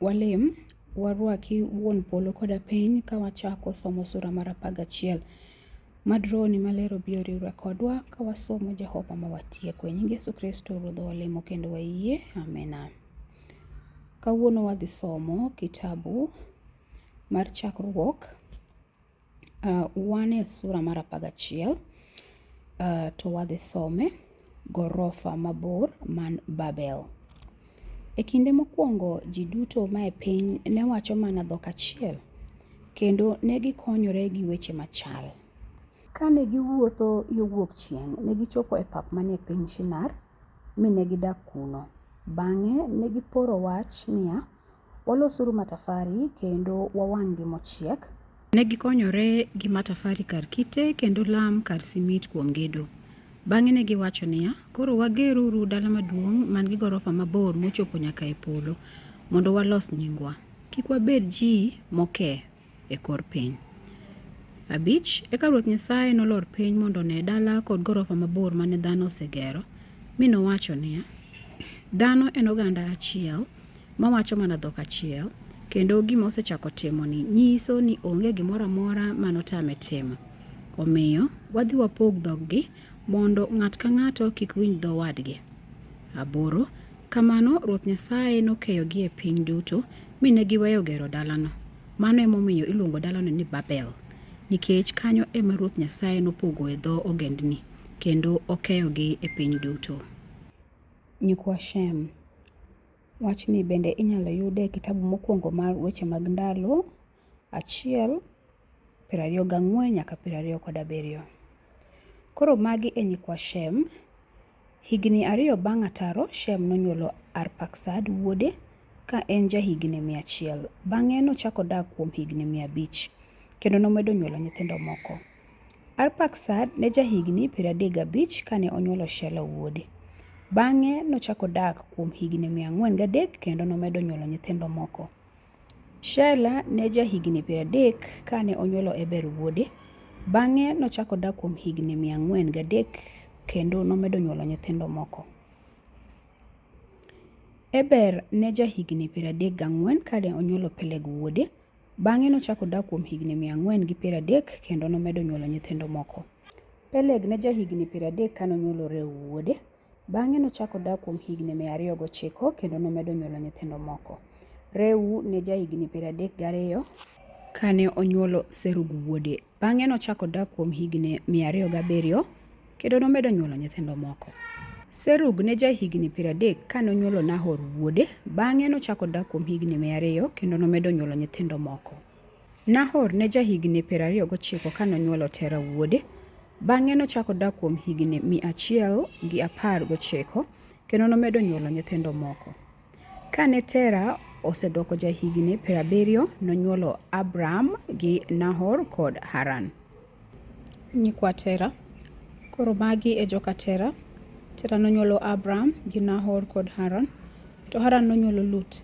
Walem, warwaki wuon polo koda piny ka wachako somo sura mar apar gachiel. Mad rohoni maler obi oriwre kodwa ka wasomo Jehova ma watieko. E nying Yesu Kristo Ruodhwa walemo kendo wayie. Amina. Kawuono wadhi somo kitabu mar Chakruok Uh, wan e sura mar apar gachiel uh, to wadhi some gorofa mabor man Babel. E kinde mokwongo ji duto mae piny ne wacho mana dhok achiel kendo ne gikonyore gi weche machal. Kane giwuotho yo wuok chieng', ne gichopo e pap manie piny Shinar mi ne gidak kuno. Bang'e ne giporo wach niya, Walosuru matafari kendo wawang'gi mochiek. Ne gikonyore gi matafari kar kite kendo lam kar simit kuom gedo. Bang'e ne giwacho niya, Koro wageruru dala maduong' man gi gorofa mabor mochopo nyaka e polo, mondo walos nyingwa. Kik wabed ji moke. e kor piny. Abich, eka Ruoth Nyasaye nolor piny mondo one dala kod gorofa mabor mane dhano osegero, mi nowacho niya, Dhano en oganda achiel mawacho mana dhok achiel, kendo gima osechako timoni nyiso ni onge gimoro amora ma notame timo. Omiyo, wadhi wapog dhoggi mondo ng'at ka ng'ato kik winj dho wadgi. Aboro, Kamano Ruoth Nyasaye nokeyogi e piny duto, mi ne giweyo gero dalano. Mano emomiyo iluongo dalano ni Babel, nikech kanyo ema Ruoth Nyasaye nopogoe dho ogendni, kendo okeyogi e piny duto. Nyikwa Shem. Wachni bende inyalo yud e kitabu mokwongo mar Weche mag Ndalo, achiel. piero ariyo gang'wen nyaka piero ariyo kod abiriyo. Koro magi e nyikwa Shem. Higni ariyo bang' ataro, Shem nonyuolo Arpaksad wuode ka en jahigni mia achiel. Bang'e nochako dak kuom higni mia abich, kendo nomedo nyuolo nyithindo moko. Arpaksad ne jahigni piero adek gabich kane onyuolo Shela wuode. Bang'e nochako dak kuom higni mia ang'wen gadek kendo nomedo nyuolo nyithindo moko. Shela ne jahigini piero adek kane onyuolo Eber wuode. Bang'e nochako odak kuom higini mia ang'wen gadek kendo nomedo nyuolo nyithindo moko. Eber ne jahigini piero adek gang'wen kane onyuolo Peleg wuode. Bang'e nochako odak kuom higini mia ang'wen gi piero adek kendo nomedo nyuolo nyithindo moko. Peleg ne jahigini piero adek kane onyuolo Reu wuode. Bang'e nochako odak kuom higni mia ariyo gochiko kendo nomedo nyuolo nyithindo moko. Reu ne jahigni piero adek gariyo kane onyuolo Serug wuode. Bang'e nochako odak kuom higni mia ariyo gabiriyo kendo nomedo nyuolo nyithindo moko. Serug ne jahigni piero adek kane onyuolo Nahor wuode. Bang'e nochako odak kuom higni mia ariyo kendo nomedo nyuolo nyithindo moko. Nahor ne jahigini piero ariyo gochiko ka nonywolo Tera wuode. Bang'e nochako odak kuom higini mia achiel gi apar gochiko kendo nomedo nyuolo nyithindo moko. Ka ne Tera osedoko jahigini piero abiriyo, nonywolo Abram gi Nahor kod Haran. Nyikwa Tera. Koro magi e joka Tera. Tera nonywolo Abram gi Nahor kod Haran, to Haran nonywolo Lut.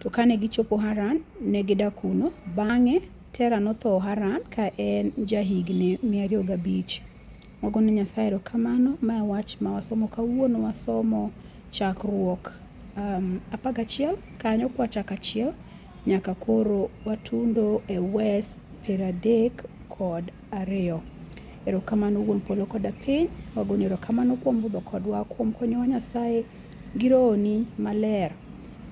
To kane gichopo Haran, ne gidak kuno. Bang'e, Tera notho Haran ka en jahigni mia ariyo gabich. Wago ne Nyasaye erokamano. Ma e wach ma wasomo kawuono. Wasomo chakruok um, apar gachiel kanyo kwachako achiel nyaka koro watundo e wes piero adek kod Ariyo. Erokamano Wuon Polo koda Piny, wagoni erokamano kuom budho kodwa, kuom konyowa Nyasaye gi rohoni maler.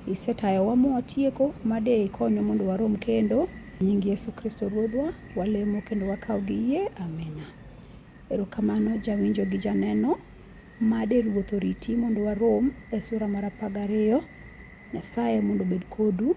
Isetayowa mwatieko ma de ikonyo mondo warom kendo. Nying Yesu Kristo Ruodhwa, walemo kendo wakaw gi yie. Amina. Erokamano jawinjo gi janeno, ma de Ruoth oriti mondo warom e sura mar apar gariyo. Nyasaye mondo obed kodu.